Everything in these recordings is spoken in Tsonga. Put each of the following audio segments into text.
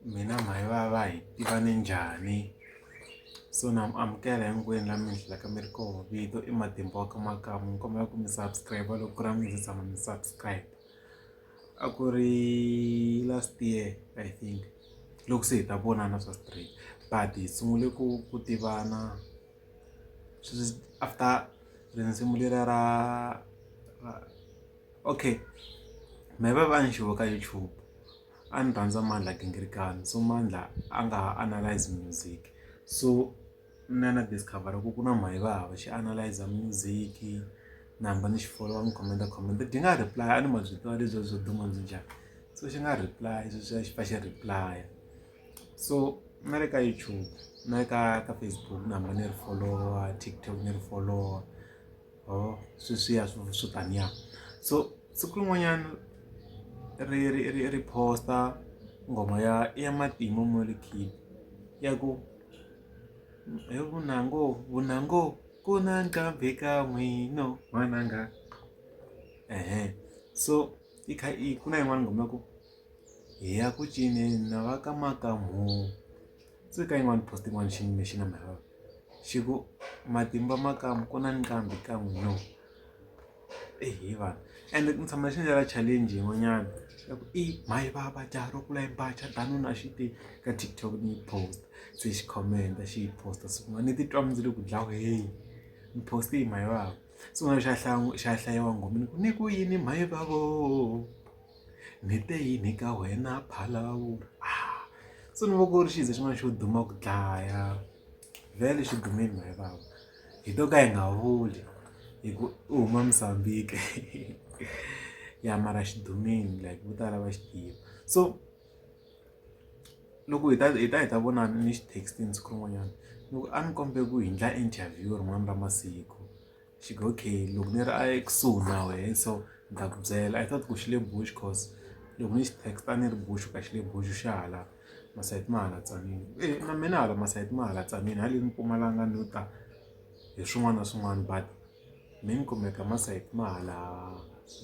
Mina mhani va va hi tivane njhani so na mi amukela hinkwenu la mi ni hlelaka mi ri koho vito i matimba wa ka makamu ni kombela ku mi subscribe loko ku ra mi ndzi tshama mi subscribe a ku ri last year i think loko se hi ta vonana swa straight but hi sungule ku ku tivana sweswi after rinsimu leriya ra ra okay me va va ni xivo ka YouTube. A ni rhandza Mandla Gingirikani so Mandla a nga ha analyse music so na na discover-a ku ku na mhayivava xi analyse music-i na hamba ni xi folowa ni comment-a comment xi nga reply a ni ma byi tiva lebyiya byo duma byi njhani so xi nga reply sweswiya xi pfa xi reply-a so na le ka YouTube na le ka ka Facebook ni hamba ni ri folowa TikTok ni ri folowa or sweswiya swo swo taniya so siku rin'wanyana ri ri ri ri post-a nghoma ya ya matimu molekile ya ku he vunango vunango ku na nqambi ka n'wino n'wananga ehe so yi kha yi ku na yin'wana nghoma ya ku hi ya ku cineni na va ka makamhoo Se ka yin'wani post yin'wani xi yime xi na marhanga xi ku matimba ma kamu ku na nqambi kan'we no e he vanhu ende ni tshama xi endlela challenge yin'wanyana ya ku i mhani va va jaha ro kula i mbhaca tano na xi te ka TikTok ni yi post se xi comment-a xi yi post siku rin'wana ni titwa ndzi ri ku dlaweni ni post hi mhani vava siku rin'wana xa xa hlayiwa ngopfu ni ku ni ku yini mhani vavoo. Ni te yini ka wena Phalaula? Haa! Se ni vona ku ri xize xin'wana xo duma ku dlaya. Vhele xi dumile mhani bava. Hi to ka hi nga vuli hi ku u huma Mozambique. Ya mara xi dumile like vo tala va xi tiva. So loko hi ta hi ta hi ta vonana ni xi text-ini siku rin'wanyana. Ni ku a ni kombela ku hi endla interview rin'wana ra masiku. she go okay loko ni ri a ekusuhi na wehe so ni ta ku byela i thought ku xi le bush cause loko ni xi text a ni ri bush ka xi le bush xi hala masayiti ma hala tsanile e na mina hala masayiti ma hala tsanile haleni mpumalanga no ta hi swin'wana na swin'wana but mi ni kumeka masayiti ma hala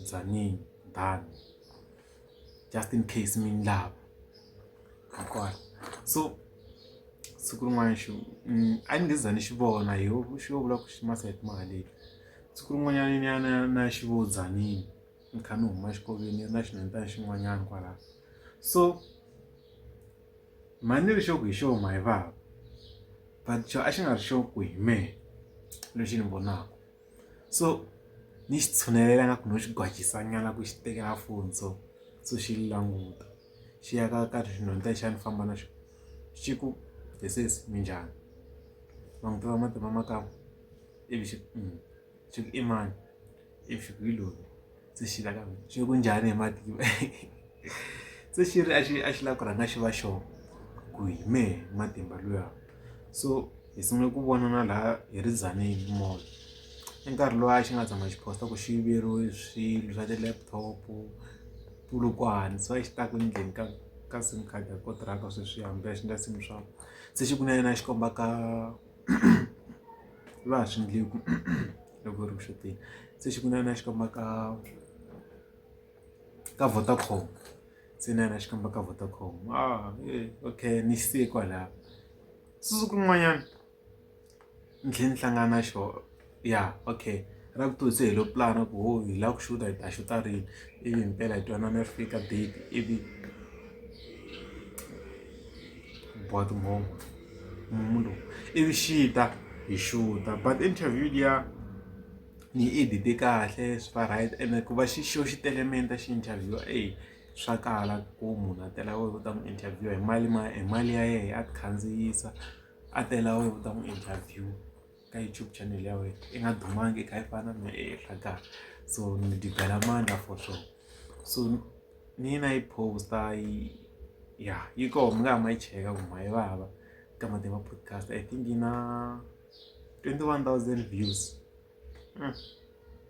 dzanini than just in case mi ni lava hinkwayo so siku rin'wana xi mm, a ni nge za ni xi vona hi xi yo vula ku xi masa hi timahaleni siku rin'wanyana ni ya na na xi vo dzanini ni kha ni huma xikolweni ni ri na xinhantana xin'wanyana kwalaho so mhani ni ri xoku hi xoma hi vava but xo a xi nga ri xoku hi mehe lexi ni vonaka so ni xi tshunelela nga ku no xi gwajisa nyana ku xi tekela foni so so xi languta xi ya ka ka xinhwanyana lexiya ni famba na xona xi ku he sesi minjhani ma n'wi tiva matimu ma ka ivi xi ku xi ku i mani ivi xi ku hi loyi. se xi la ka mina xi ku njhani hi mativa se xi ri a xi a xi lava ku rhanga xi va xona ku hi mehe matimba luya so hi sungule ku vonana laha hi ri zaneni mall i nkarhi lowu a xi nga tshama xi post-a ku xi yiveriwe swilo swa ti-laptop pulukwana se va xi taka endzeni ka ka sim card ya kontiraka sweswiya hambi a xi nga sim shop se xi ku na yena a xi komba ka. va ha swi endleku loko ri xotile se xi ku na na xi komba ka ka Vodacom se na yena xi komba ka Vodacom a okay ni xi siye kwalaya siku rin'wanyana ni tlhe ni hlangana na xoho. ya okay ra ku se hi lo pulana ku ho hi lava ku xuta hi ta xuta rini ivi himpela hi twanana ri fika date ivi boha timhongo mumu lowu ivi xita hi xuta but interview liya ni yi edite kahle swi va right ene ku va xi xo xi telementa xi interview eyi swa kala ku munhu a tela wehe u ta n'wi interview hi mali ma hi mali ya yena a ti khandziyisa a tela wehe u ta n'wi interview ka youtube channel ya wena i nga dumangi i kha i fana na ehlaka so ni dibela mandla for sure so ni na yi posta yi ya yi koho mi nga ha ma yi cheka ku ma yi vava ka matimba podcast i think yi na 21000 views mm.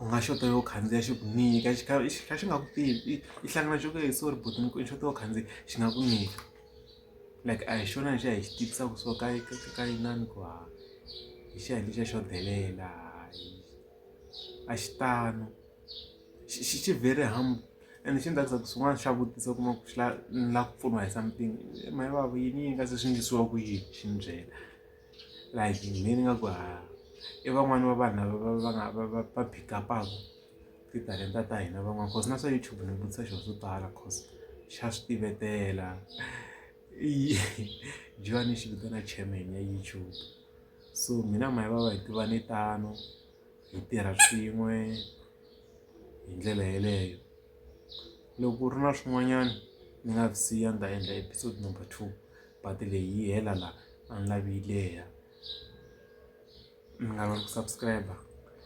u nga xota yo khandziya xi ku nyika xi kha xi kha xi nga ku tivi i i hlangana xo ku ri sorry buti ni ku ni xota yo khandziya xi nga ku nyika like a hi xona lexi a hi xi tivisaka so ka ka inani ku ha hi xiya hi lexi a xo delela hayi a xi tano xi xi xi very humble ende xi endlaka ku swin'wana xa vutisa u kuma ku xi la ni la ku pfuniwa hi something mhani vava yini yi nga se swi endlisiwa ku yini xi ni byela. like mehe ni nga ku ha i van'wani va vanhu lava va nga va va va pick up-aku titalenta ta hina van'wani cause na swa YouTube ni vutisa xo swo tala cause xa swi tivetela Joh ni xi vitana chairman ya YouTube so mina mehe va va hi tivane tano hi tirha swin'we hi ndlela yeleyo loko ku ri na swin'wanyani ni nga swi siya ni ta endla episode number two. patu leyi yi hela laha a ni lavi yi leha ni nga subscriber.